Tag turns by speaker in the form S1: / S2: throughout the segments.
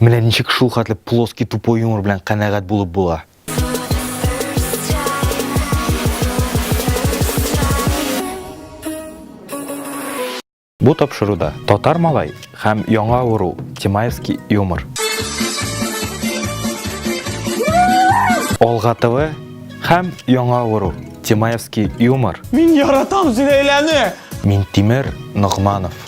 S1: Менә ничек шул хәтле плоский тупой юмор белән канәгать булып була. Бу тапшыруда татар малай һәм яңа авыру Тимаевский юмор. Олга ТВ һәм яңа авыру Тимаевский юмор. Мин яратам
S2: Зиләйләне! Мин Тимер
S1: Ногманов.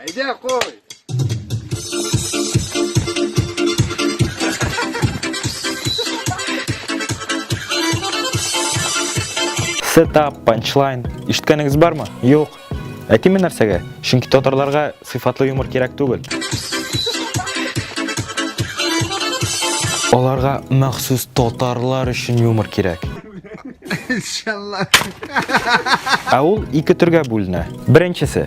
S2: Әйдә, кой!
S1: Сетап, панчлайн, ишеткәнегез бармы? Юк. Әйтеме нәрсәгә? Чөнки татарларга сыйфатлы юмор кирәк түгел. Аларга махсус татарлар өчен юмор кирәк.
S2: Иншалла.
S1: Ә ул ике төргә бүленә. Беренчесе,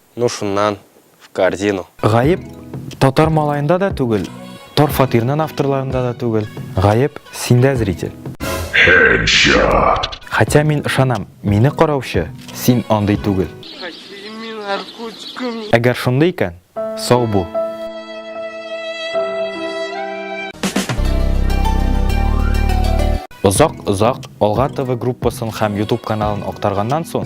S1: Ну шуннан,
S3: в корзину. Гаеп
S1: татар малаенда да түгел, тор фатирнын авторларында да түгел, гаеп синдә зритель. Headshot. Хотя мин ышанам, мине караучы, син андый түгел. Әгәр шундый икән, сау бул. Озак-озак Алга ТВ группасын һәм YouTube каналын актарганнан соң,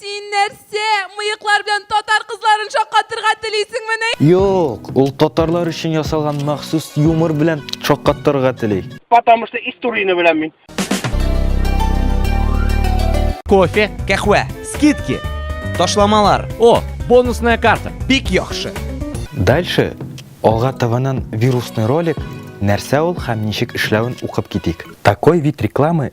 S4: Син нәрсә, мыеклар белән татар кызларын шаккатырга телисеңмени? Юк, ул
S1: татарлар өчен ясалган махсус юмор белән шаккаттырырга тели. Потому что историяне
S2: беләм мин.
S5: Кофе, кәхвә, скидки, ташламалар. О, бонусная карта, бик яхшы. Дальше
S1: алга табанан вирусный ролик нәрсә ул һәм ничек эшләвен укып китик. Такой вид рекламы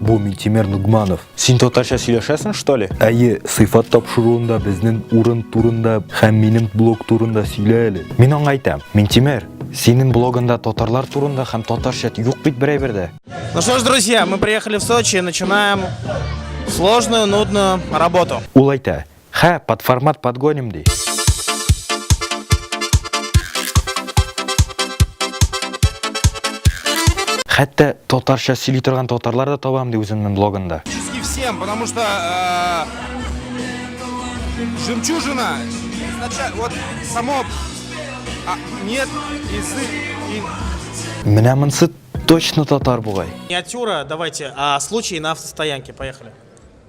S1: Бу Минтимер Нугманов. Син татарча сөйләшәсең, что ли? Әйе, сыйфат тапшыруында безнең урын турында һәм минем блог турында сөйлә әле. Мин аңа әйтәм, Минтимер, синең блогында татарлар турында һәм татарча юк бит бер әйбер Ну что ж, друзья,
S6: мы приехали в Сочи и начинаем сложную, нудную работу. Ул әйтә,
S1: Хә, под формат подгоним ди. Хәтта татарча сөйли торган татарлар да табам ди үземнең блогында. Чески всем, потому
S7: что э, жемчужина, вот само а, нет язык и... Менә монсы
S1: точно татар бугай. Миниатюра, давайте,
S6: а случай на автостоянке, поехали.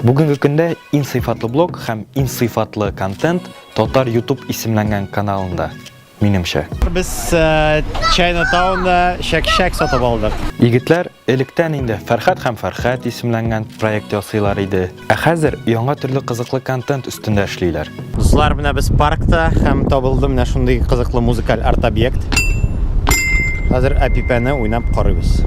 S1: Бүгенге көндә иң сыйфатлы блог һәм иң сыйфатлы контент Татар YouTube исемләнгән каналында. Минемчә. Без э,
S2: Чайна Таунда шәк-шәк сатып алдык. Егетләр
S1: электән инде Фәрхәт һәм Фәрхәт исемләнгән проект ясыйлар иде. Ә хәзер яңа төрле кызыклы контент өстендә эшлиләр. Дуслар, менә без
S2: паркта һәм табылды менә шундый кызыклы музыкаль арт-объект. Хәзер әпипәне уйнап карыйбыз.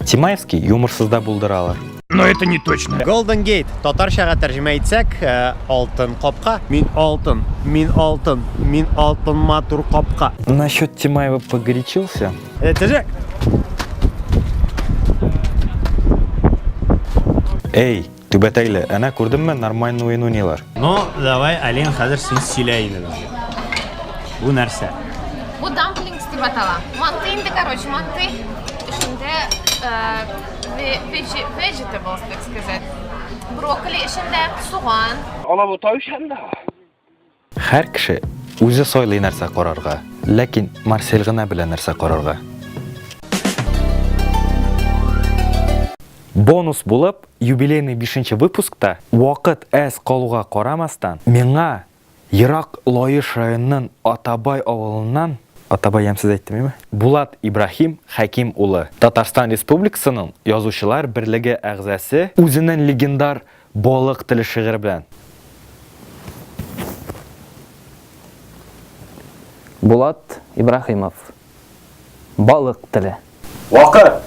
S1: Тимаевский юморсыз да булдыралар. Но это не точно.
S2: Golden Gate, татарчага тәрҗемә итсәк, э, алтын капка. Мин алтын, мин алтын, мин алтын матур капка. Насчет Тимаева
S1: погорячился. Это же... Эй, түбәтәйле, әнә күрдемме нормальный уен уйныйлар. Ну, давай,
S2: Алин, хәзер син сөйлә инде. Бу нәрсә? Бу дамплингс
S8: дип атала. Манты инде, короче, манты. Эчендә э, Vegetables, так сказать. Брокколи эчендә, суган. Алабу тавышан да.
S1: Хәр кеше үзе сойлый нәрсә карарга, ләкин Марсель гына белә нәрсә карарга. Бонус булып, юбилейный 5 нче выпускта вакыт әз калуга карамастан, миңа Ерак Лаеш районынын Атабай авылыннан, Атабай ямьсез әйттемме? Булат Ибраһим Хәким улы, Татарстан Республикасының Язучылар берлеге әгъзасе, үзенен легендар Балык теле шигыре белән.
S9: Булат Ибраһимов, Балык теле. Вакыт!